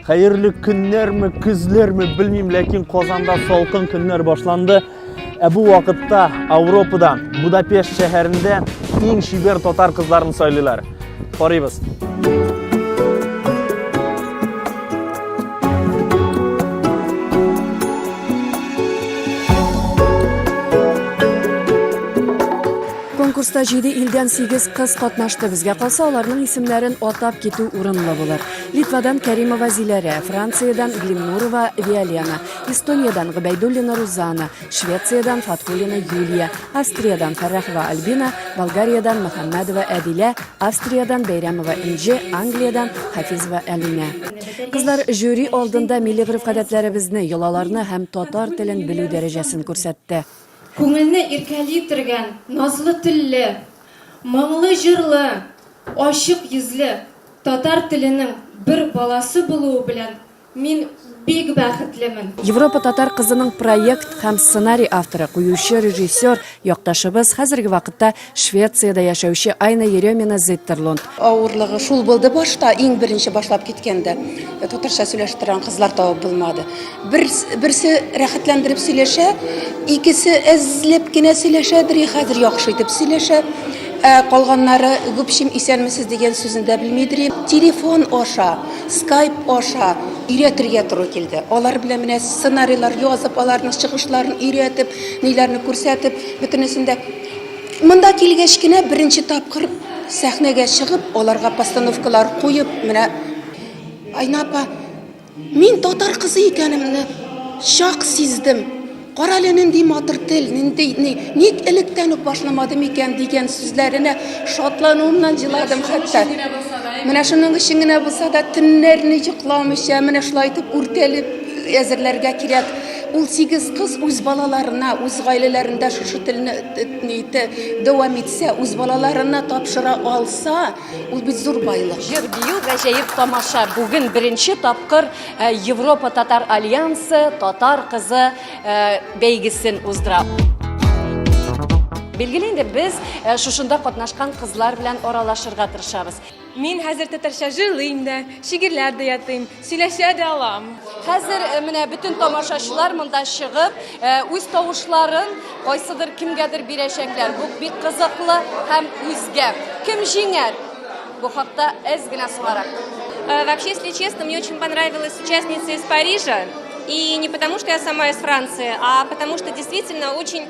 Хәерле көннәрме, көзләрме, белмим, ләкин Казанда салкын көннәр башланды. Ә бу вакытта Европада, Будапешт шәһәрендә иң шибер татар кызларын сайлыйлар. Карыйбыз. Конкурста җиде илдән сигез кыз катнашты. Безгә калса, аларның исемнәрен атап китү урынлы булыр. Литвадан Кәримова Зиләрә, Франциядән Глимнурова Виолена, Эстониядән Гобәйдуллина Рузана, Швециядән Фатхуллина Юлия, Австриядән Фәррахова Альбина, Болгариядән Мөхәммәдова Әдилә, Австриядән Бәйрәмова Энҗе, Англиядән Хафизова Әлинә. Кызлар жюри алдында милли гореф-гадәтләребезне, йолаларны һәм татар телен белү дәрәҗәсен күрсәтте. Күңелне иркәли тергән назлы телле, моңлы җырлы, ачык йөзле татар теленең бер баласы булуы белән мин бик бәхетлемен. Европа татар кызының проект һәм сценарий авторы, куючы, режиссер якташыбыз, хәзерге вакытта Швециядә яшәүче Айна Еремина Зиттерлунд. Авырлыгы шул булды башта, иң беренче башлап киткәндә. Э, татарча сөйләшеп торган кызлар табып булмады. Бер, берсе рәхәтләндереп сөйләшә, икесе әзләп кенә сөйләшә, бер хәзер яхшы итеп сөйләшә. Ә калганнары гүпшим исәнмесез дигән сүзен дә белмидер. Телефон аша, скайп аша өйрәтергә туры килде. Алар белән менә сценарийлар язып, аларның чыгышларын өйрәтеп, ниләрне күрсәтеп, бөтенесендә Монда килгәч кенә беренче тапкыр сәхнәгә чыгып, аларга постановкалар куеп, менә Айна апа, мин татар кызы икәнемне чак сиздем. Кара әле нинди матур тел, нинди ни, ник электән үк башламадым икән дигән сүзләренә шатлануымнан җыладым хәтта. Менә шуның өчен генә булса да төннәрне йокламыйча, менә шулай итеп үртәлеп әзерләргә кирәк. Ул сигез кыз үз балаларына, үз гаиләләрендә шушы телне итә, дәвам итсә, үз балаларына тапшыра алса, ул бит зур байлык. Җыр бию гаҗәеп тамаша. Бүген беренче тапкыр э, Европа татар альянсы татар кызы э, бәйгесен уздыра. Билгеле инде без э, шушында катнашкан кызлар белән аралашырга тырышабыз. Мин хәзер татарча җырлыйм да, шигырьләр дә ятыйм, сөйләшә дә алам. Хәзер э, менә бөтен тамашачылар монда чыгып, э, үз тавышларын кайсыдыр кемгәдер бирәчәкләр. Бу бик кызыклы һәм үзгә. Кем җиңәр? Бу хакта әз генә соңарак. Э, вообще, если честно, мне очень понравилась участница из Парижа. И не потому, что я сама из Франции, а потому, что действительно очень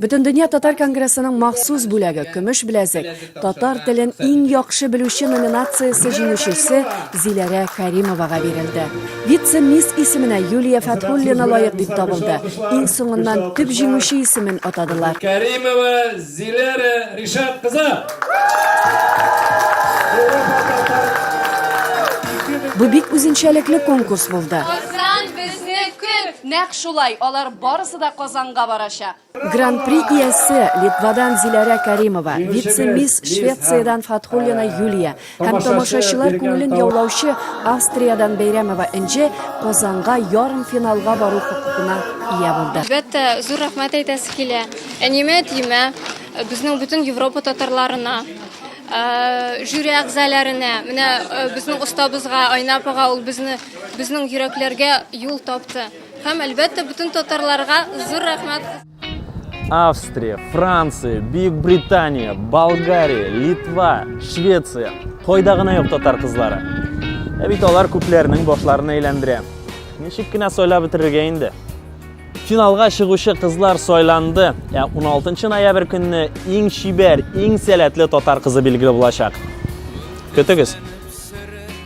Бөтендөнья татар конгрессының махсус бүләге, көмеш беләзек, татар телен иң яхшы белүче номинациясе җиңүчесе Зиләрә Кәримовага бирелде. Вице-мисс исеменә Юлия Фәтхуллина лаек дип табылды. Иң соңыннан төп җиңүче исемен атадылар. Кәримова Зиләрә Ришат кызы! Бу бик үзенчәлекле конкурс булды. Мөмкин! Нәкъ шулай, алар барысы да Казанга барачак. Гран-при иясе, Литвадан Зиләрә Кәримова, вице-мисс Швециядән Фатхуллина Юлия һәм тамашачылар күңелен яулаучы Австриядән Бәйрәмова Энҗе Казанга ярымфиналга бару хокукына ия булды. Әлбәттә, зур рәхмәт әйтәсе килә. Әниемә, әтиемә, безнең бөтен Европа татарларына, жюри әгъзаләренә, менә безнең остабызга, Айна апага, ул безне Безнең йөрәкләргә юл тапты. Һәм, әлбәттә, бөтен татарларга зур рәхмәт. Австрия, Франция, Бөек Британия, Болгария, Литва, Швеция. Кайда гына юк татар кызлары. Ә бит алар күпләрнең башларын әйләндерә. Ничек кенә сайлап бетерергә инде? Финалга чыгучы кызлар сайланды. Ә 16 ноябрь көнне иң чибәр, иң сәләтле татар кызы билгеле булачак. Көтегез!